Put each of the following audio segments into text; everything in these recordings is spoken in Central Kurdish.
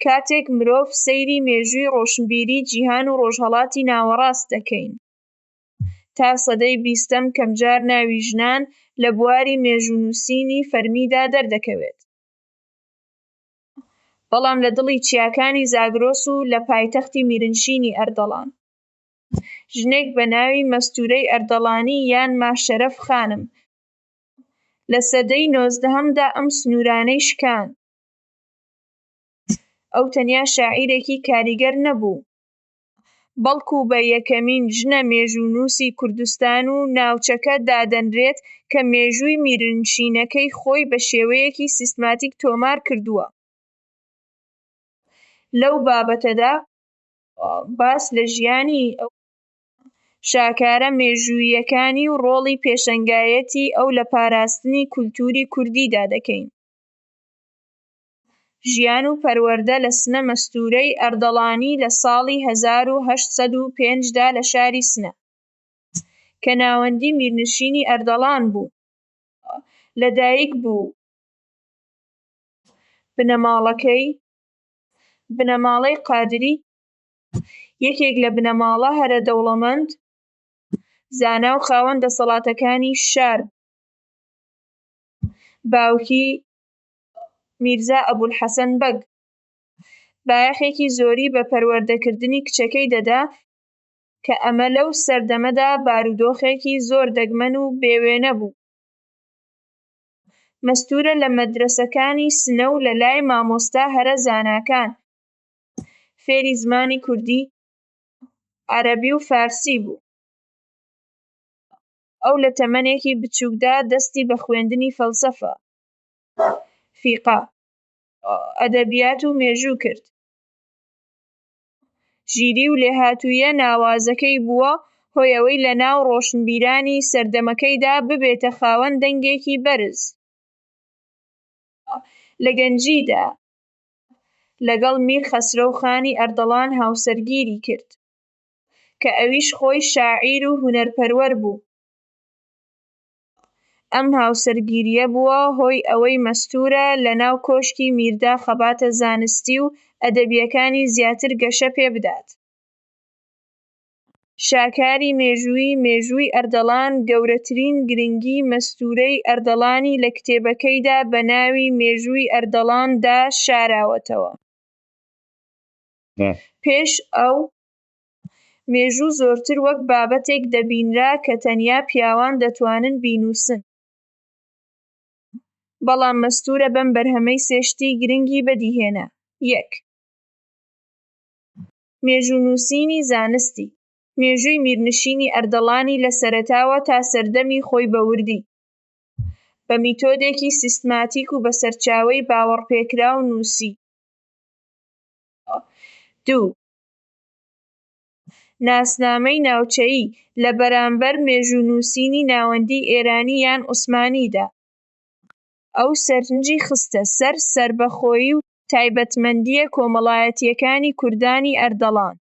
کاتێک مرۆڤ سەیری مێژووی ڕۆشنبیری جیهان و ڕۆژهەڵاتی ناوەڕاست دەکەین تا سەدەی بیستەم کەمجار ناوی ژنان لە بواری مێژوو نووسینی فەرمیدا دەردەکەوێت بەڵام لە دڵی چیاکانی زاگرۆس و لە پایتەختی میرنشینی ئەردەڵان ژنێک بە ناوی مەستورەی ئەردەڵانی یان ماشەرەف خانم لە سەدەی نۆزدەهەمدا ئەم سنوورانەی شکاند. ئەو تەنیا شاعیرێکی کاریگەر نەبوو، بەڵکو بە یەکەمین ژنە مێژوونووسی کوردستان و ناوچەکە دادەنرێت کە مێژووی میرنشینەکەی خۆی بە شێوەیەکی سیستماتیک تۆمار کردووە. لەو بابەتەدا باس لە ژیانی ئەو شاکارە مێژووییەکانی و ڕۆڵی پێشەنگایەتی ئەو لە پاراستنی کولتووری کوردیدا دەکەین. ژیان و پەروەردە لە سنە مەستوورەی ئەردەڵانی لە ساڵی هەزار و هەشت سەد و پێنج دا لە شاری سنە کە ناوەندی میرنشینی ئەردەڵان بوو لە دایک بوو، بنەماڵەکەی، بنەماڵەی قادری، یەکێک لە بنەماڵە هەرە دەوڵەمەند، زانا و خاوەن دەسەڵاتەکانی شار بوو، باوکی میرزا ئەبولحەسەن بەگ بایەخێکی زۆری بە پەروەردەکردنی کچەکەی دەدا کە ئەمە لەو سەردەمەدا بارودۆخێکی زۆر دەگمەن و بێ وێنە بوو. مەستوورە لە مەدرەسەکانی سنە و لەلای مامۆستا هەرە زاناکان فێری زمانی کوردی، عەرەبی و فارسی بوو. ئەو لە تەمەنێکی بچووکدا دەستی بە خوێندنی فەلسەفە، فیقە، ئەدەبیات و مێژوو کرد. ژیری و لێهاتووییە ناوازەکەی بووە هۆی ئەوەی لە ناو ڕۆشنبیرانی سەردەمەکەیدا ببێتە خاوەن دەنگێکی بەرز. لە گەنجیدا لەگەڵ میر خەسرەو خانی ئەردەڵان هاوسەرگیری کرد، کە ئەویش خۆی شاعیر و هونەرپەروەر بوو. ئەم هاوسەرگیرییە بووە هۆی ئەوەی مەستوورە لە ناو کۆشکی میردا خەباتە زانستی و ئەدەبییەکانی زیاتر گەشە پێ بدات. شاکاری مێژووی مێژووی ئەردەڵان گەورەترین گرنگی مەستوورەی ئەردەڵانی لە کتێبەکەیدا بە ناوی مێژووی ئەردەڵان دا شاراوەتەوە. پێش ئەو. مێژوو زۆرتر وەک بابەتێک دەبینرا کە تەنیا پیاوان دەتوانن بینووسن، بەڵام مەستوورە بەم بەرهەمەی سێ شتی گرنگی بەدیهێنا، یەک. مێژوونووسینی زانستی، مێژووی میرنشینی ئەردەڵانی لە سەرەتاوە تا سەردەمی خۆی بە وردی، بە میتۆدێکی سیستماتیک و بە سەرچاوەی باوەڕپێکراو نووسیوە، دوو. ناسنامەی ناوچەیی لە بەرامبەر مێژوو نووسینی ناوەندی ئێرانی یان عوسمانیدا ئەو سەرنجی خستە سەر سەربەخۆیی و تایبەتمەندییە کۆمەڵایەتییەکانی کوردانی ئەردەڵان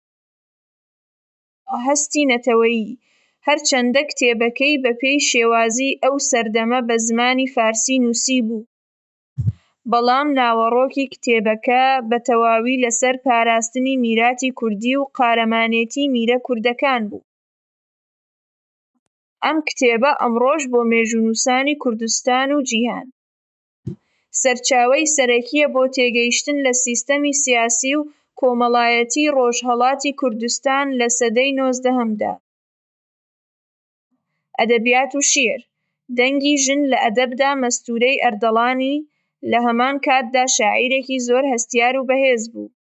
و هەستی نەتەوەیی، هەرچەندە کتێبەکەی بەپێی شێوازی ئەو سەردەمە بە زمانی فارسی نووسیبوو. بەڵام ناوەڕۆکی کتێبەکە بە تەواوی لەسەر پاراستنی میراتی کوردی و قارەمانێتی میرە کوردەکان بوو. ئەم کتێبە ئەمڕۆش بۆ مێژوونووسانی کوردستان و جیهان، سەرچاوەی سەرەکییە بۆ تێگەیشتن لە سیستەمی سیاسی و کۆمەڵایەتیی ڕۆژهەڵاتی کوردستان لە سەدەی نۆزدەهەمدا. ئەدەبیات و شیعر، دەنگی ژن لە ئەدەبدا مەستوورەی ئەردەڵانی، لە هەمان کاتدا شاعیرێکی زۆر هەستیار و بەهێز بوو.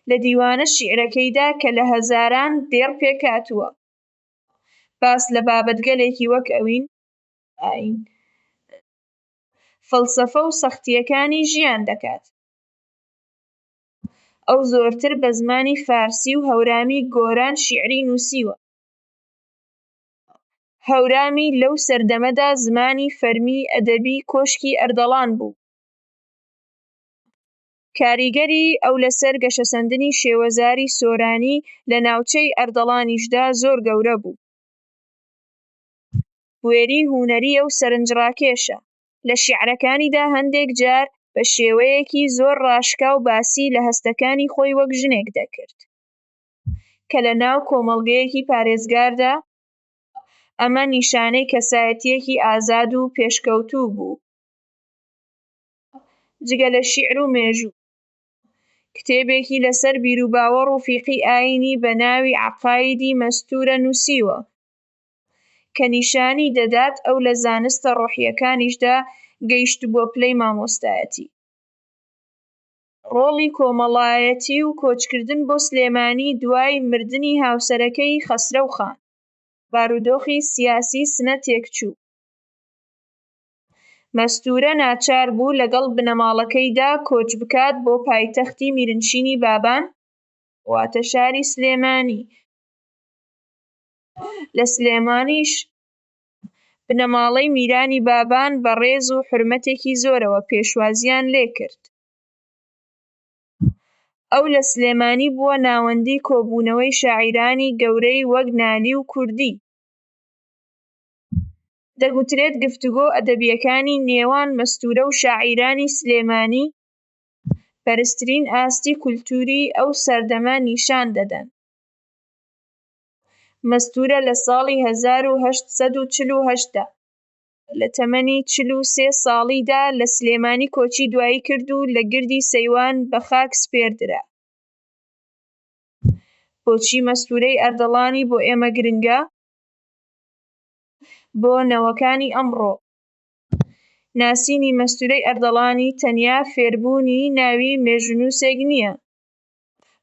لە دیوانە شیعرەکەیدا کە لە هەزاران دێڕ پێکهاتووە، باس لە بابەتگەلێکی وەک ئەوین، ئایین، فەلسەفە و سەختییەکانی ژیان دەکات. ئەو زۆرتر بە زمانی فارسی و هەورامی گۆران شیعری نووسیوە. هەورامی لەو سەردەمەدا زمانی فەرمیی ئەدەبی کۆشکی ئەردەڵان بوو. کاریگەری ئەو لەسەر گەشەسەندنی شێوەزاری سۆرانی لە ناوچەی ئەردەڵانیشدا زۆر گەورە بوو. بوێریی هونەری ئەو سەرنجڕاکێشە. لە شیعرەکانیدا هەندێک جار بە شێوەیەکی زۆر ڕاشکاو باسی لە هەستەکانی خۆی وەک ژنێک دەکرد کە لە ناو کۆمەڵگەیەکی پارێزگاردا ئەمە نیشانەی کەسایەتییەکی ئازاد و پێشکەوتوو بوو. جگە لە شیعر و مێژوو، کتێبێکی لەسەر بیروباوەڕ و فیقی ئایینی بە ناوی عەقایدی مەستوورە نووسیوە. کە نیشانی دەدات ئەو لە زانستە ڕۆحییەکانیشدا گەیشتبووە پلەی مامۆستایەتی. ڕۆڵی کۆمەڵایەتی و کۆچکردن بۆ سلێمانی دوای مردنی هاوسەرەکەی خەسرەو خان، بارودۆخی سیاسی سنە تێکچوو، مەستوورە ناچار بوو لەگەڵ بنەماڵەکەیدا کۆچ بکات بۆ پایتەختی میرنشینی بابان واتە شاری سلێمانی، لە سلێمانیش بنەماڵەی میرانی بابان بە ڕێز و حورمەتێکی زۆرەوە پێشوازییان لێکرد. ئەو لە سلێمانی بووە ناوەندی کۆبوونەوەی شاعیرانی گەورەی وەک نالی و کوردی. دەگوترێت گفتوگۆ ئەدەبییەکانی نێوان مەستوورە و شاعیرانی سلێمانی بەرزترین ئاستی کولتووری ئەو سەردەمە نیشان دەدەن. مەستوورە لە ساڵی هەزار و هەشت سەد و چل و هەشت دا لە تەمەنی چل و سێ ساڵیدا لە سلێمانی کۆچی دوایی کرد و لە گردی سەیوان بە خاک سپێردرا. بۆچی مەستوورەی ئەردەڵانی بۆ ئێمە گرنگە؟ بۆ نەوەکانی ئەمڕۆ، ناسینی مەستوورەی ئەردەڵانی تەنیا فێربوونی ناوی مێژوونووسێک نییە،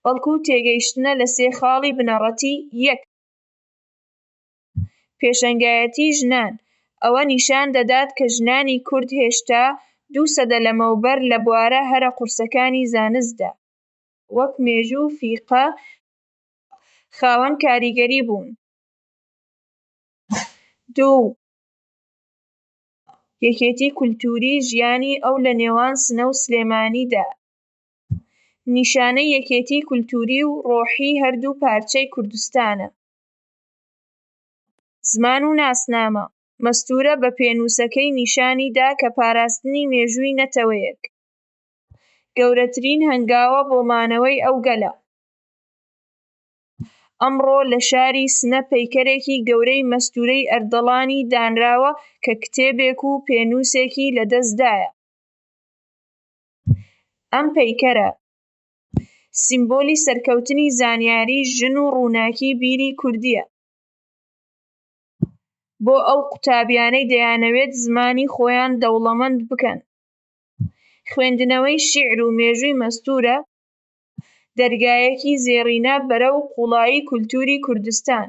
بەڵکو تێگەیشتنە لە سێ خاڵی بنەڕەتی، یەک. پێشەنگایەتی ژنان، ئەوە نیشان دەدات کە ژنانی کورد هێشتا دوو سەدە لەمەوبەر لە بوارە هەرە قورسەکانی زانستدا، وەک مێژوو و فیقە، خاوەن کاریگەری بوون، دوو. یەکێتی کولتووری ژیانی ئەو لە نێوان سنە و سلێمانیدا، نیشانەی یەکێتیی کولتووری و ڕۆحیی هەردوو پارچەی کوردستانە. زمان و ناسنامە، مەستوورە بە پێنووسەکەی نیشانی دا کە پاراستنی مێژووی نەتەوەیەک، گەورەترین هەنگاوە بۆ مانەوەی ئەو گەلە. ئەمڕۆ لە شاری سنە پەیکەرێکی گەورەی مەستوورەی ئەردەڵانی دانراوە کە کتێبێک و پێنووسێکی لە دەست دایە. ئەم پەیکەرە سیمبولی سەرکەوتنی زانیاری ژن و ڕووناکی بیری کوردیە بۆ ئەو قوتابیانەی دەیانەوێت زمانی خۆیان دەوڵەمەند بکەن خوێندنەوەی شیعر و مێژووی مەستورە دەرگایەکی زێڕینە بەرەو قوڵایی کولتوری کوردستان.